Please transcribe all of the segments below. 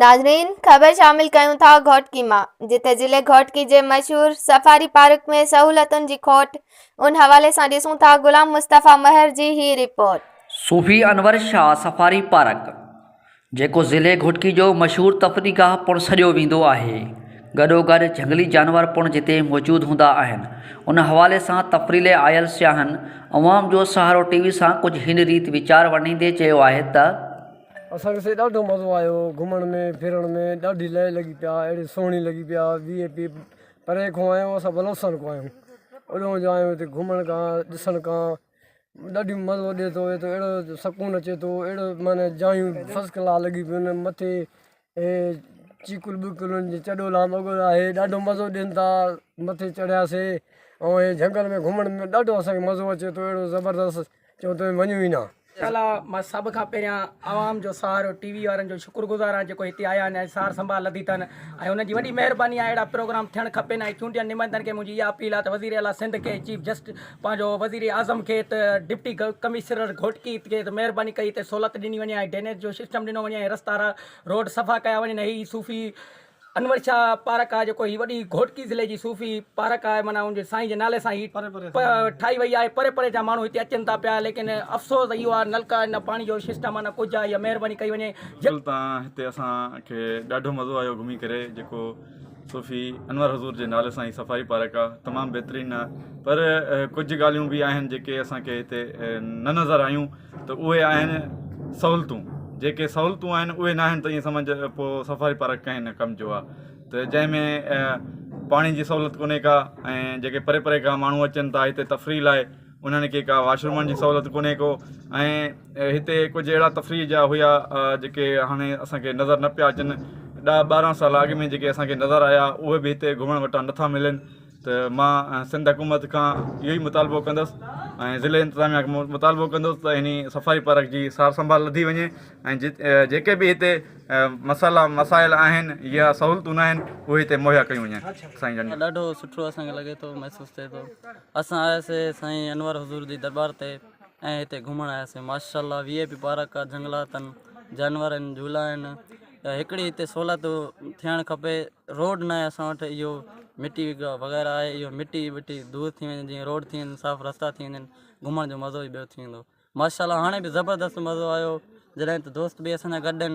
ناظرين خبر شامل ڪيون ٿا گهوٽڪي مان جتي ضلعي گهوٽڪي جي مشهور سفاري پارڪ ۾ سهولتن جي کوٽ ان حوالي سان ڏسون ٿا غلام مصطفيٰ مهر جي هي report. Sufi Anwar Shah safari park جيڪو ضلعي گهوٽڪي جو مشهور تفريح گاهه پڻ سڏيو ويندو آهي گڏوگڏ جهنگلي جانور پڻ جتي موجود هوندا آهن ان حوالي سان تفريح لاء آيل سياحن عوام جو سهارو ٽي وي سان ڪجهه هن ريت ويچار ورنيندي چيو آهي ته اسان کي سائين ڏاڍو مزو آيو گهمڻ ۾ ڦرڻ ۾ ڏاڍي لئه لڳي پيا اهڙي سهڻي لڳي پيا وي اي پي پري کان آيا آهيون اسان بلوچستان کان آيا آهيون اڏهو جو آيا آهيون هتي گهمڻ کان ڏسڻ کان ڏاڍي مزو ڏي ٿو اهڙو سڪون اچي ٿو اهڙو معنيٰ جايون فرسٽ ڪلاس لڳي پيون مٿي هي چيڪو بلڪل انهن جي چڏو لانگهو آهي ڏاڍو مزو ڏين ٿا مٿي چڙهياسين ۽ هي جهنگل ۾ گهمڻ ۾ ڏاڍو اسانکي مزو اچي ٿو اهڙو زبردست جو توهين مڃيو ئي نه شالا مان سڀ کان پهريان عوام جو سهارو ٽي وي وارن جو شڪر گذار آهيان جيڪو هتي آيا آهن ۽ سار سنڀال لڌي اٿن ۽ انهن جي وڏي مهرباني آهي اهڙا پروگرام ٿيڻ کپين ۽ چونڊيل نمائندن کي منهنجي اها اپيل آهي ته وزير اعليٰ سنڌ کي چيف جسٽس پنهنجو وزير اعظم کي ته ڊپٽي ڪمشرر گهوٽڪي کي ته مهرباني ڪئي ته سهولت ڏني وڃي ۽ ڊينيج جو سسٽم ڏنو وڃي ۽ رستا روڊ صفا ڪيا وڃن ۽ هي صوفي انور شاهه پارڪ آهي جيڪو هي وڏي گهوٽڪي ضلعي جي صوفي پارڪ آهي معنيٰ ان جي سائين جي نالي سان هي ٺاهي وئي آهي پري پري جا ماڻهو هتي اچن ٿا پيا ليڪن افسوس اهو آهي نلڪا نه پاڻي جو سسٽم آهي نه ڪجهه آهي اها مهرباني ڪئي وڃي جيڪو هتي اسان کي ڏاڍو مزو آيو گهمي ڪري جيڪو صوفي انور حضور جي نالي سان هي صفائي پارڪ آ تمام بهترين آ پر ڪجهه ڳالهيون به آهن جيڪي اسان کي هتي نه نظر آيون ته اهي آهن سهولتون جيڪي سهولتون آهن اهي نه آهن ته ائين سمجهه ته پو صفائي پارڪ ڪنهن نه ڪم جو آ ته جنهن ۾ پاڻي جي سهولت ڪونهي ڪا ۽ جيڪي پري پري کان ماڻهو اچن ٿا هتي تفريح لاء انهن کي ڪا واش رومن جي سهولت ڪونهي ڪو ۽ هتي ڪجهه اهڙا تفريح جا هيا جيڪي هاڻي اسانکي نظر نه پيا اچن ڏهه ٻارهن سال اڳ ۾ جيڪي اسانکي نظر آيا اهي به هتي گهمڻ وٽان نٿا ملن ته مان سنڌ حڪومت کان اهو ئي مطالبو ڪندس ۽ ضلعي انتظاميا کي مطالبو ڪندس ته هني صفائي پارڪ جي سار سنڀال لڌي وڃي ۽ جت جيڪي به هتي مسئلا مسائل آهن يا سهولتون ناهن اهي هتي مهيا ڪيون وڃن سائين جن ڏاڍو سٺو اسانکي لڳي ٿو محسوس ٿئي ٿو اسان آياسي سائين انور حضور جي دربار تي ۽ هتي گهمڻ آياسي ماشاءالله وي اي پي پارڪ آ جهنگلاتن جانور آهن جهولا آهن هڪڙي هتي سهولت ٿيڻ کپي روڊ ناهي اسان وٽ اهو مٽي وغيره آهي اهو مٽي وٽي دور ٿي وڃي جيئن روڊ ٿي وڃي صاف رستا ٿي وڃن گهمڻ جو مزو ئي ٻيو ٿي ويندو ماشاءالله هاڻي به زبردست مزو آيو جڏهن ته دوست به اسان جا گڏ آهن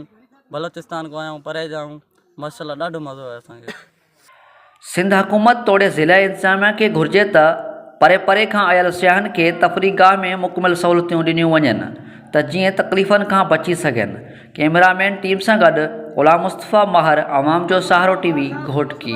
بلوچستان کان آيا آهيون پري جا آهيون ماشاءالله ڏاڍو مزو آيو اسان کي. سنڌ حڪومت توڙي ضلع انتظاميا کي گهرجي ته پري پري کان آيل سياحن کي تفريح گاهه ۾ مڪمل سهولتيون ڏنيون وڃن ته جيئن تڪليفن کان بچي سگهن. ڪيمرا مين ٽيم سان گڏ غلام مصطفيٰ ماهر عوام جو سهارو ٽي وي گهوٽڪي.